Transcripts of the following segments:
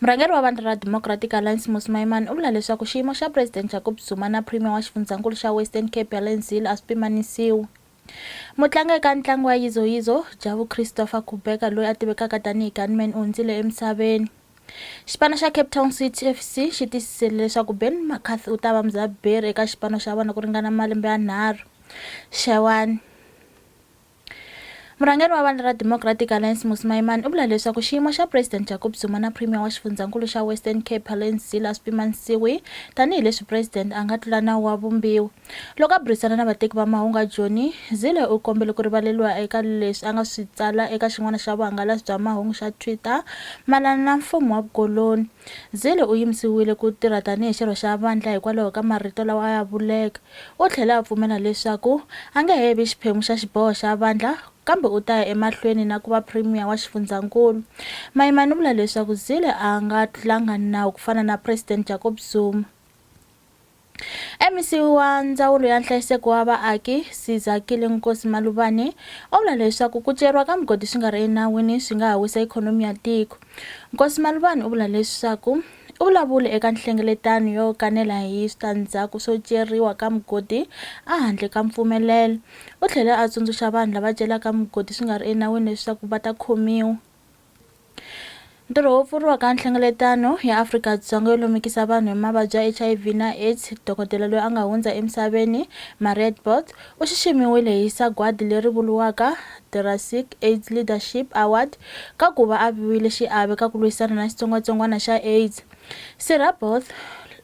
Murhangeri wa vandla ra Democratic Alliance Mmusi Maimane u vula leswaku xiyimo xa President Jacob Zuma na Premier wa xifundzankulu xa Western Cape Helen Zille a swi pimanisiwi. Mutlangi eka ntlangu wa Yizo Yizo, Jabu Christopher Kubheka loyi a tivekaka tanihi Gunman u hundzile emisaveni. Xipano xa Cape Town City FC xi tiyisisile leswaku Ben McCarthy u ta va mudzaberi eka xipano xa vona ku ringana malembe yanharhu. Xewani. Murhangeri wa vandla ra Democratic Alliance Mmusi Maimane u vula leswaku xiyimo xa President Jacob Zuma na Premier wa xifundzhankulu xa Western Cape Helen Zille a swi pimanisiwi tanihi leswi President a nga tlula nawu wa vumbiwa. Loko a burisana na vateki va mahungu a Joni, Zille u kombele ku rivaleriwa eka leswi a nga swi tsala eka xin'wana xa vuhangalasi bya mahungu xa Twitter mayelana na mfumo wa vukoloni. Zille u yimisiwile ku tirha tanihi xirho xa vandlha hikwalaho ka marito lawa a ya vuleke. U tlhele a pfumela leswaku a nge he vi xiphemu xa xiboho xa vandlha kambe u ta ya emahlweni na ku va Premier wa Xifundzankulu. Mayimani u vula leswaku Zille a nga tlulanga nawu ku fana na Presidente Jacob Zuma. MEC wa Ndzawulo ya Nhlayiseko wa Vaaki, Sizakile Nkosi Maluvane, u vula leswaku ku ceriwa ka migodi swi nga ri enawini swi nga ha wisa ikhonomi ya tiko. Nkosi Maluvane u vula leswaku u vulavule eka nhlengeletano yo kanela hi switandzhaku swo ceriwa ka migodi a handle ka mpfumelelo. U tlhele a tsundzuxa vanhu lava celaka migodi swi nga ri enawini leswaku va ta khomiwa. ntirho wo pfuriwa ka nhlengeletano ya afrika-dzonga yo lumikisa vanhu hi mavabyi ya hiv na aids dokodela loyi a nga hundza emisaveni mariet bot u xiximiwile hi sagwadi leri vuriwaka drasic aids leadership award ka ku va a viwile xiave ka ku lwisana na xitsongwatsongwana xa aids sirha both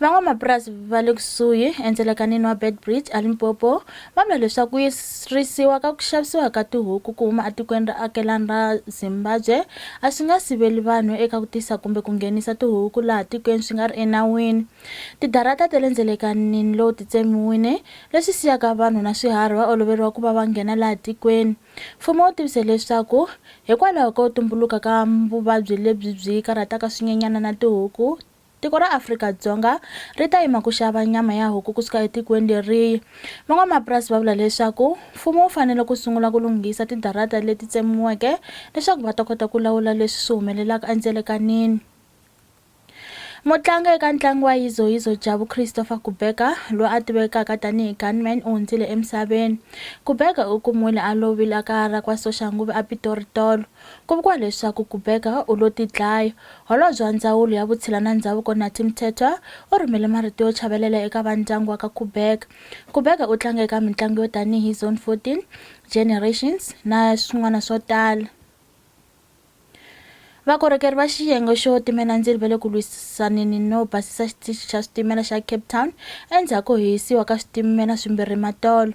Van'wamapurasi va le kusuhi endzelekanini wa Beitbridge eLimpopo va vula leswaku ku yirisiwa ka ku xavisiwa ka tihuku ku huma etikweni ra akelani ra Zimbabwe a swi nga siveli vanhu eka ku tisa kumbe ku nghenisa tihuku laha tikweni swi nga ri enawini. Tidarata ta le ndzelekanini lowu ti tsemiwile leswi siyaka vanhu na swiharhi va oloveriwa ku va va nghena laha tikweni. Mfumo wu tivise leswaku hikwalaho ko tumbuluka ka vuvabyi lebyi byi karhataka swinyenyana na tihuku, tiko ra Afrika-Dzonga ri ta yima ku xava nyama ya huku kusuka etikweni leriyi. Van'wamapurasi va vula leswaku mfumo wu fanele ku sungula ku lunghisa tidarata leti tsemiweke leswaku va ta kota ku lawula leswi swi humelelaka endzelekanini. Mutlangi eka ntlangu wa yizoyizo Jabu Christopher Kubheka, loyi a tivekaka tanihi Gunman u hundzile emisaveni. Kubheka u kumiwile a lovile ekaya ra kwa Soxanguve aPitori tolo. Ku vuriwa leswaku Kubheka u lo tidlaya. Holobye wa Ndzawulo ya Vutshila na Ndzhavuko Nathi Mthethwa u rhumele marito yo chavelela eka va ndyangu wa ka Kubheka. Kubheka u tlange eka mintlangu yo tanihi Zone 14, Generations na swin'wana swo tala. Vakorhokeri va xiyenge xo timela ndzilo va le ku lwisaneni no basisa xitichi xa switimela xa Cape Town endzhaku ko hisiwa ka switimela swimbirhi matolo.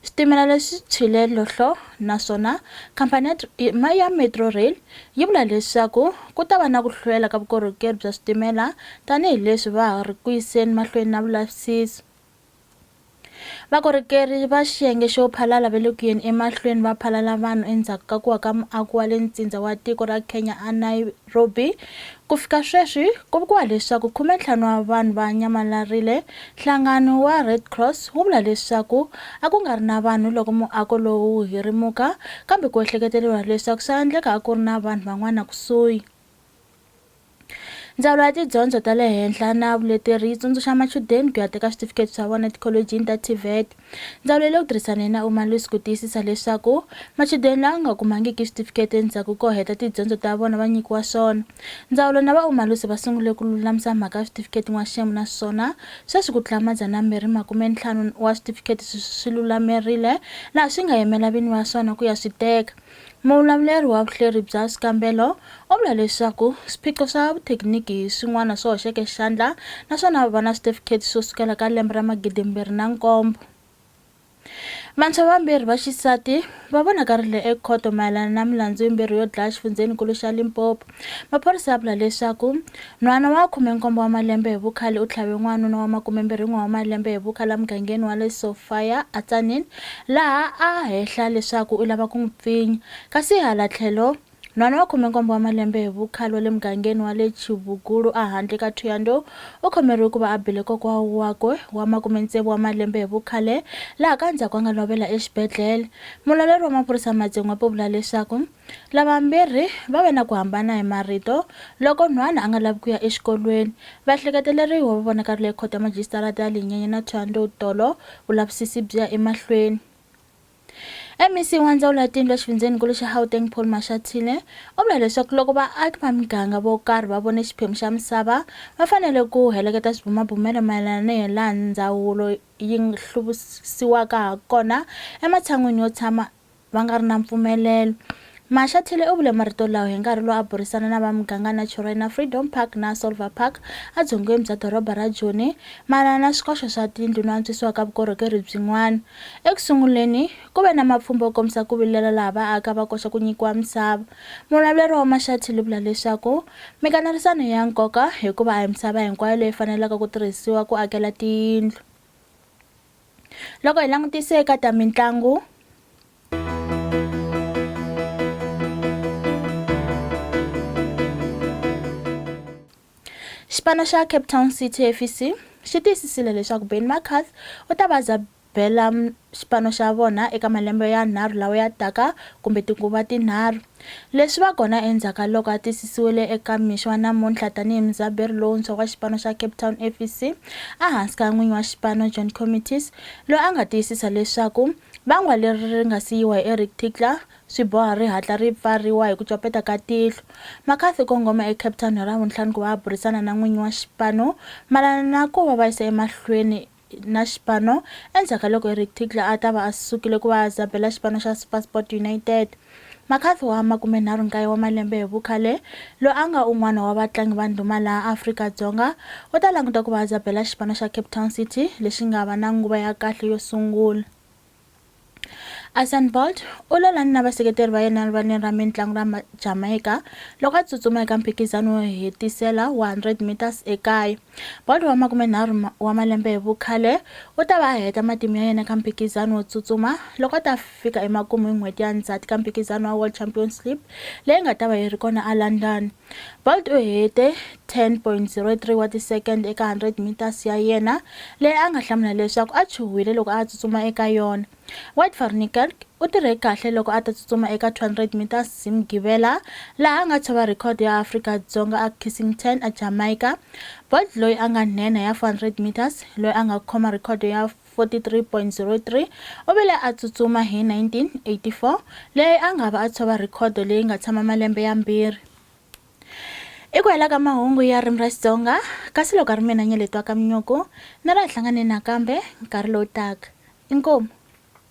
Switimela leswi tshwile lohlo naswona khampani ya Metro Rail yi vula leswaku ku ta va na ku hlwela ka vukorhokeri bya switimela tanihileswi va ha ri ku yiseni mahlweni na vulavisisi. Vakorhokeri va xiyenge xo phalala va le ku yeni emahlweni va phalala vanhu endzhaku ka ku wa ka muako wa le ntsindza wa tiko ra Kenya eNairobi. Ku fika sweswi ku vuriwa leswaku khumentlhanu wa vanhu va nyamalarile. Nhlangano wa Red Cross wu vula leswaku a ku nga ri na vanhu loko muako lowu wu hirimuka, kambe ku ehleketeleriwa leswaku swa endleka a ku ri na vanhu van'wana kusuhi. ndzawulo ya tidyondzo ta le henhla na vuleteri yi tsundzuxa machudeni ku ya teka switifiketi swa vona etikholojini ta tvet ndzawulo yi le ku tirhisaneni na umalusi ku tiyisisa leswaku machudeni lawa nga kumangiki switifiketi endzhaku ko heta tidyondzo ta vona va nyikiwa swona ndzawulo na vaumalusi va sungule ku lulamisa mhaka ya switifiketi n'waxemu naswona sweswi ku tlula madzanambirhi makumentlhanu wa switifiketi swi lulamerile laha swi nga yimela vini va swona ku ya swi teka Muvulavuleri wa vuhleri bya swikambelo u vula leswaku swiphiqo swa vuthekiniki hi swin'wana swi hoxeke xandla naswona va va na switifikheti swo sukela ka lembe ra magidimbirhi na nkombo. Vantshwa vambirhi va xisati va vonakarile ekhoto mayelana na milandzu yimbirhi yo dlaya exifundzheni-nkulu xa Limpopo. Maphorisa ya vula leswaku nhwana wa khume-nkombo wa malembe hi vukhale u tlhave n'wanuna wa makume-mbirhi-n'we wa malembe hi vukhale emugangeni wa le Sophia aTzaneen laha a hehla leswaku u lava ku n'wi pfinya. Kasi hala tlhelo, nhwana wa khume-nkombo wa malembe hi vukhale wa le mugangeni wa le Chibugulu ehandle ka Thohoyandou u khomeriwe ku va a bile kokwa wakwe wa makume-tsevu wa malembe hi vukhale laha ka ndzhaku a nga lovela exibedlhele. Mulawleri wa maphorisa eMadzingwape u vula leswaku Lavambirhi va ve na ku hambana hi marito loko Nhwana a nga lavi ku ya exikolweni. Vahleketeleriwa va vonakarile eKhoto ya Majisitarata ya Linyenye na Thohoyandou tolo vulavisisi byi ya emahlweni. MEC wa Ndzawulo ya Tiyindlu exifundzheni-nkulu xa Gauteng Paul Mashatile u vule leswaku loko vaaki va miganga vo karhi va vone xiphemu xa misava va fanele ku heleketa swibumabumelo mayelana ni hilaha ndzawulo yi hluvukisiwaka hakona ematshan'wini yo tshama va nga ri na mpfumelelo. Mashathile u vule marito lawa hi nkarhi lowu a burisana na va muganga Naturena Freedom Park na Solver Park adzongeni bya doroba ra Joni mayelana na swikoxo swa tindlu no antswisiwa ka vukorhokeri byin'wana. Eku sunguleni, ku ve na mapfhumba yo kombisa ku vilela laha vaaka va koxa ku nyikiwa misava. Muvulavuri wa Mashathile u vula leswaku mikanerisano i ya nkoka hikuva a hi misava hinkwayo leyi fanelaka ku tirhisiwa ku akela tiyindlu. loko hi langutise eka ta mitlangu xipano xa cape town city fc xi tiyisisile leswaku ben macarth u ta va bela xipano xa vona eka malembe yanharhu lawa ya taka kumbe tinguva tinharhu Leswi va kona endzhaku ka loko a tiyisisiwile eka mixo wa namuntlha tanihi mudzaberi lowuntshwa wa xipano xa Cape Town FC ehansi ka n'winyi wa xipano John Comitis loyi a nga tiyisisa leswaku vangwa leri ri nga si yiwa hi Eric Tinkler swi boha ri hatla ri pfariwa hi ku copeta ka tihlo. McCarthy u kongome eCape Town hi Ravuntlhanu ku va a burisana na n'winyi wa xipano mayelana na ku va va yisa emahlweni na xipano endzhaku ka loko Eric Tinkler a ta va a sukile ku va a zabela xipano xa SuperSport United. McCarthy wa 39 wa malembe hi vukhale, loyi a nga un'wana wa vatlangi va ndhuma laha Afrika-Dzonga, u ta languta ku va a zabela xipano xa Cape Town City lexi nga va na nguva ya kahle yo sungula. Usain Bolt u lolani na vaseketeri va yena rivaleni ra mitlangu ra Jamaica loko a tsutsuma eka mphikizano wo hetisela wa 100 meters ekaya. Bolt wa makumenharhu wa malembe hi vukhale u ta va a heta matimu ya yena eka mphikizano wo tsutsuma loko a ta fika emakumu hi n'hweti ya Ndzhati ka mphikizano wa World Championship leyi nga ta va yi ri kona eLondon. Bolt u hete 10.03 wa tisekende eka 100 meters ya yena leyi a nga hlamula leswaku a chuhwile loko a tsutsuma eka yona. Wout van Niekerk u tirhe kahle loko a ta tsutsuma eka 200 meters hi Mugivela laha a nga tshova rhekhodo ya Afrika-Dzonga a Kissington a Jamaica. Bolt loyi a nga nhenha ya 400 meters loyi a nga khoma rhekhodo ya 43.03 u vile a tsutsuma hi 1984, leyi a nga va a tshova rhekhodo leyi nga tshama malembe yambirhi. I ku hela ka mahungu ya ririmi ra Xitsonga, kasi loko a ri mina Nyeletwakaminyuku, ni ra hi hlangane nakambe nkarhi lowu taka. Inkomu.